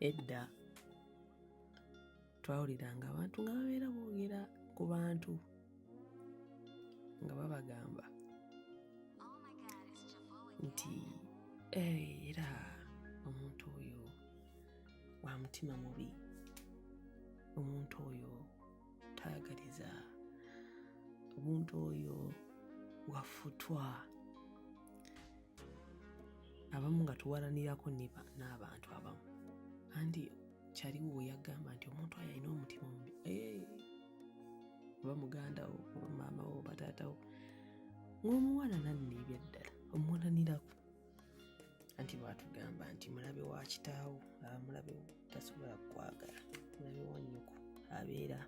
edda twawuliranga abantu nga babeera boogera ku bantu nga babagamba nti eh, era omuntu oyo wa mutima mubi omuntu oyo tayagaliza omuntu oyo wafutwa abamu nga tuwalanirako n'abantu abamu andi kyaliwo weyagamba nti omuntu ayo alina omutima omubi eh, oba muganda wo oba maama wo oba taata wo ng'omuwana nanna ebyaddala omuwalanirako anti bwatugamba nti mulabe wa kitaawo aba mulabe tasobola kukwagala mulabe wa nyoko abeera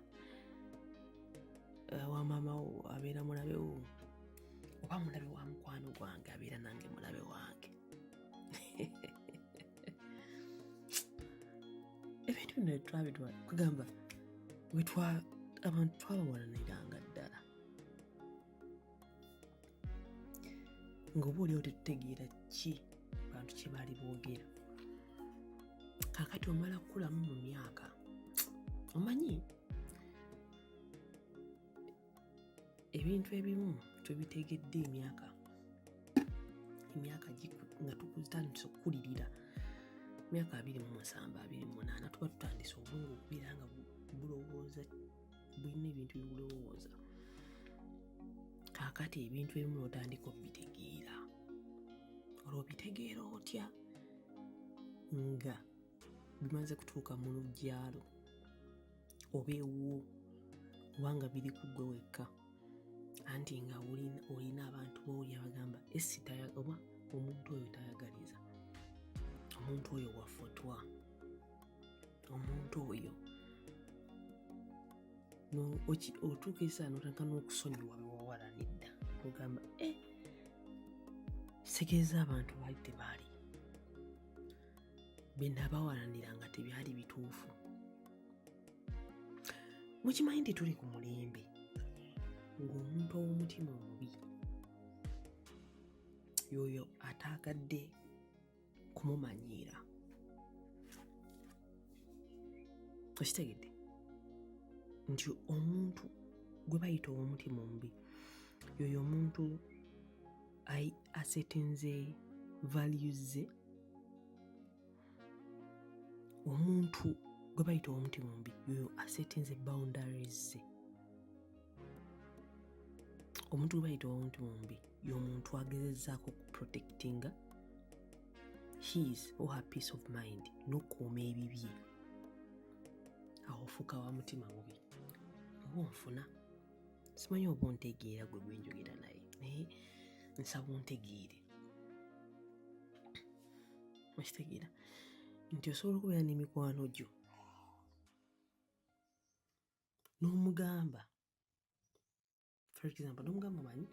eh, wa maama wo abeera mulabe wo oba mulabe wa mukwano gwange abeera nange mulabe wange ebintu bino twabitwa kugamba wetwa abantu twabawalaniranga ddala ngaoba oliawo tetutegeera ki bantu kye baali boogera kakati omala kukulamu mu myaka omanyi ebintu ebimu tubitegedde emyaka emyaka nga tukutandise okukulirira myaka abiri mu musanvu abiri mu munaana tuba tutandise obwongo okubeera nga bulowooza bulina ebintu bibulowooza kaakati ebintu ebimu notandika obitegeera olwo obitegeera otya nga bimaze kutuuka mu luggyalo oba ewuwo kubanga biri ku gwe wekka anti nga olina abantu booli abagamba esi oba omuntu oyo tayagaliza omuntu oyo wafutwa omuntu oyo otuuka esaano otandika n'okusonyiwa bewawala nedda ogamba e eh, sitegeeza abantu baali tebaali bye nabawalanira nga tebyali bituufu mukimanyi nti tuli ku mulembe ng'omuntu ow'omutima omubi yoyo ataagadde kumumanyiira okitegedde nti omuntu gwe bayita ow'omutima omubi yoyo omuntu i asetinze values ze omuntu gwe bayita omuti mumbi yoyo asetinze boundaries ze omuntu gwe bayita omuti mumbi yomuntu agezezaako okuprotectinga his or her peace of mind nokuuma ebibye awo ofuuka wa mutima mubi oba onfuna simanyi oba ontegeera gwe gwenjogera naye naye nsaba ontegeere okitegeera nti osobola okubeera n'emikwano gyo n'omugamba for example n'omugamba manyi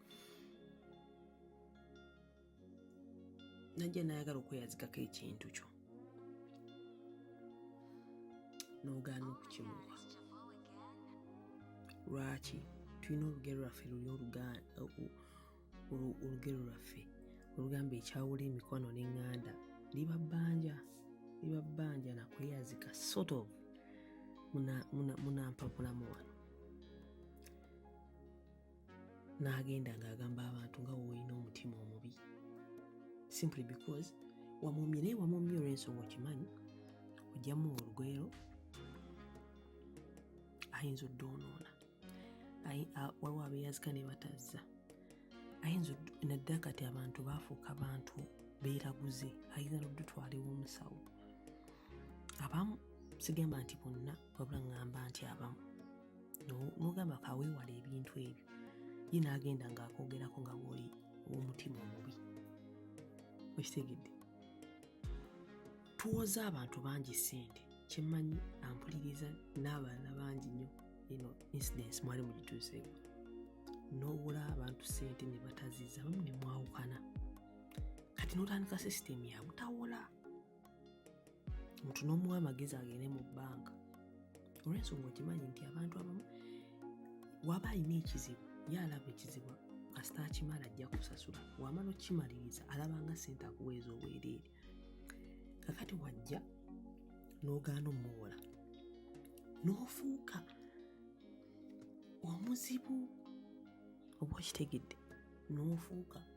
najja nayagala okweyazikako ekintu kyo n'ogaana okukimuwa lwaki tulina olugero lwaffe luli olugero lwaffe olugamba ekyawula emikwano n'eŋŋanda liba bbanja liba bbanja nakweyazika sort of munampapulamu wano n'agenda ng'agamba abantu nga woolina omutima omubi simply because wamumye naye wamumye olw'ensonga okimanyi ojjamu olugwero ayinza oddoonoona waliwo abeeyazika ne batazza ayinza naddala kati abantu baafuuka bantu beeraguze ayinza noddutwalewo omusawo abamu sigamba nti bonna wabula ŋŋamba nti abamu nogamba kawewala ebintu ebyo ye nagenda nga akogerako nga bwoli omutima omubi okitegedde tuwoza abantu bangi sente kyemanyi ampuliriza n'abalala bangi nnyo ino incidence mwali mugituuseeko n'owola abantu sente ne bataziza bamu ne mwawukana kati notandika sisitemu yabutawola omuntu n'omuwa amagezi agende mu bbanka olwensonga okimanyi nti abantu abamu waba alina ekizibu ye alaba ekizibu kasita akimala ajja kusasula wamala okimaliriza alaba nga sente akuweeza obwereere kakati wajja n'ogaana omuwola n'ofuuka omuzibu oba okitegedde n'ofuuka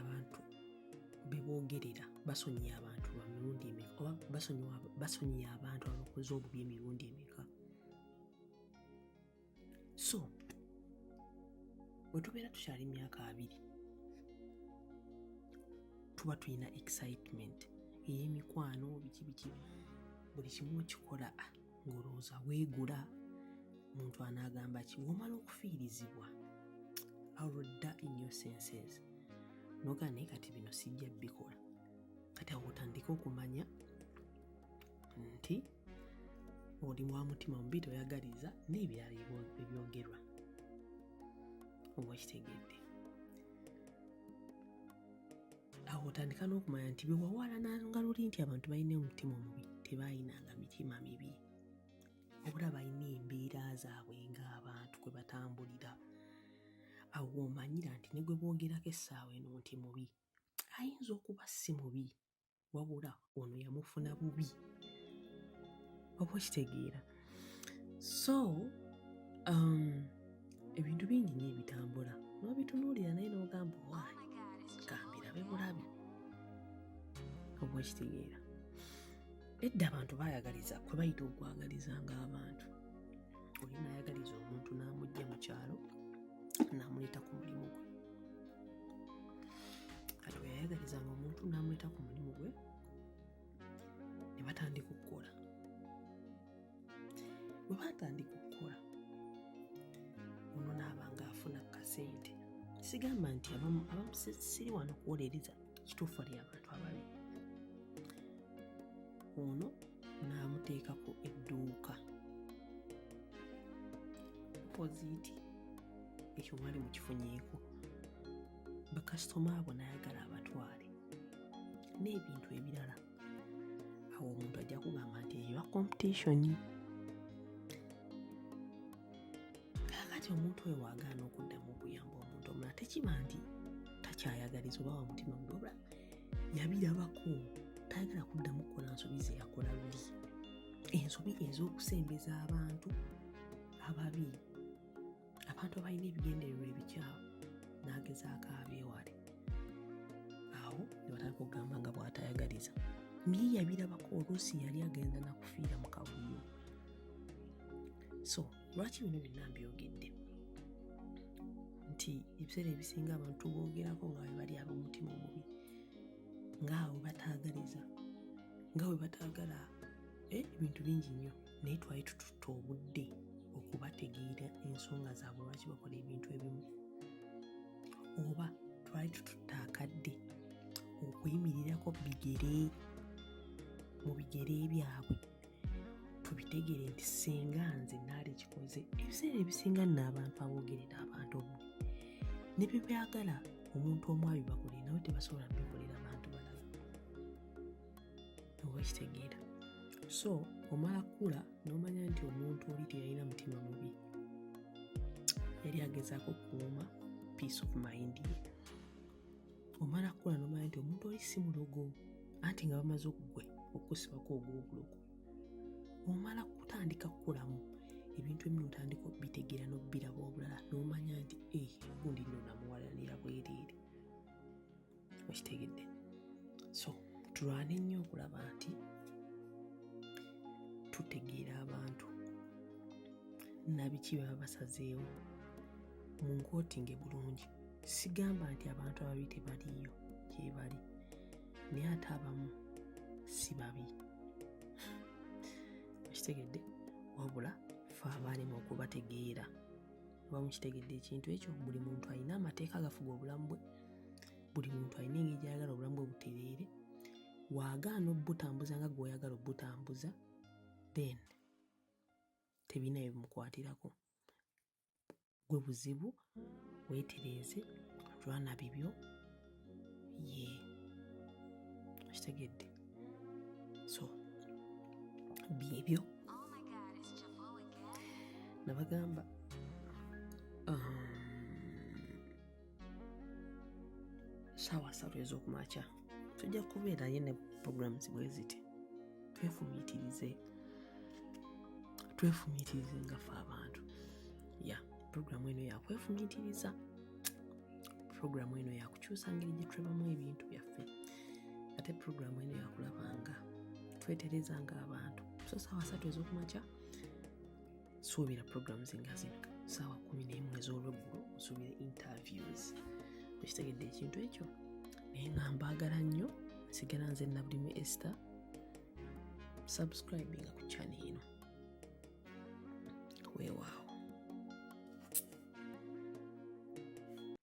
abantu beboogerera basonyiye abantu ba mirundi emeka oba basonyiye abantu abakoze obubi emirundi emeka so wetubeera tukyali myaka abiri tuba tulina excitement ey'emikwano biki biki buli kimu okikola ah, ng'olowooza weegula omuntu anaagamba ki womala okufiirizibwa alodda innyo senses noga naye kati bino sijja bikola kati awo otandike okumanya nti oli wa mutima mubi toyagaliza n'ebirala ebyogerwa oba okitegedde awo otandika n'okumanya nti bewawaalananga luli nti abantu balina omutima omubi tebaayinanga mitima mibi obula balina embeera zaabwe ng'abantu kwe batambulira awo omanyira nti ne gwe boogerako essaawa eno nti mubi ayinza okuba si mubi wabula ono yamufuna bubi oba okitegeera so um, ebintu bingi nyo ebitambula nobitunuulira naye nogamba owaani oh gambirabe bulabi oba okitegeera edda abantu bayagaliza kwe bayita okwagaliza ng'abantu oli nayagaliza omuntu n'amugja mu kyalo n'amuleeta ku mulimu gwe kati weyayagalizanga omuntu n'amuyita ku mulimu gwe ne batandika okukola bwe batandika okukola ono naabanga afuna kasente sigamba nti abamu siri wano kuwolereza kituufu ali abantu ababi ono n'amuteekako edduuka poziti ekyo mwali mukifunyeeko bakasitoma abo nayagala abatwale n'ebintu ebirala awo omuntu ajja kugamba nti eba competition kakati omuntu oyo wagaana okuddamu okuyamba omuntu omulala tekiba nti takyayagaliza oba wa mutima mudobla yabirabako tayagala kuddamu kukola nsobi zeyakola luli ensobi ez'okusembeza abantu ababi abantu abalina ebigendererwa ebikyamu n'agezaako abyewale awo ne batandika okugamba nga bw'atayagaliza naye yabirabako oluusi yali agenda nakufiira mu kavuyo so lwaki bino byonna mbyogedde nti ebiseera ebisinga abantu boogerako nga bwe bali ab'omutima omubi ngaawe bataagaliza nga bwe bataagala eh, ebintu bingi nnyo naye twali tututte obudde okubategeera ensonga zaabwe lwaki bakola ebintu ebimu oba twali tututte akadde okuyimirirako bigere mu bigere byabwe tubitegere nti singa nze naali kikoze ebiseera ebisinga nno abantu aboogerera abantu omu ne bye byagala omuntu omu abibakolere nawe tebasobola bikolera oba kitegeera so omala kukula n'omanya nti omuntu oli teyalina mutima mubi yali agezaako okukuuma peace of mind ye omala kukula n'omanya nti omuntu oli si mulogo anti nga bamaze okugwe okukusibako ogw'obulogo omala kutandika kukulamu ebintu ebimu otandika okubitegeera n'okubiraba obulala n'omanya nti e eh, gundi nno namuwalanira bwereere okitegedde so tulwane nnyo okulaba nti tutegeera abantu nabiki baba basazeewo mu nkotinge bulungi sigamba nti abantu ababi tebaliiyo gyebali naye ate abamu si babi okitegedde wabula fe abaalimu okubategeera oba mukitegedde ekintu ekyo buli muntu alina amateeka agafuga obulamu bwe buli muntu alina engeri gyayagala obulamu bwe butereere waagaana obutambuza nga gweoyagala obutambuza then tebirina bye bimukwatirako gwe buzibu weetereeze lwana bibyo ye okitegedde so byebyo nabagamba um, saawa satu ez'okumakya tujja kubeerayo ne programu zibwe ziti twefumiitirize twefumiitirize nga fe abantu ya programu eno yakwefumiitiriza programu eno yakukyusa ngeri gye twebamu ebintu byaffe ate programu eno yakulabanga twetereza nga abantu so saawa satu ez'okumakya suubira programs nga zino saawa kumi nemu ez'olweggulo osuubira interviews ekitegedde ekintu ekyo naye nga mbaagala nnyo nsigala nze nabulimu ester subscribinga ku chane eno weewaawo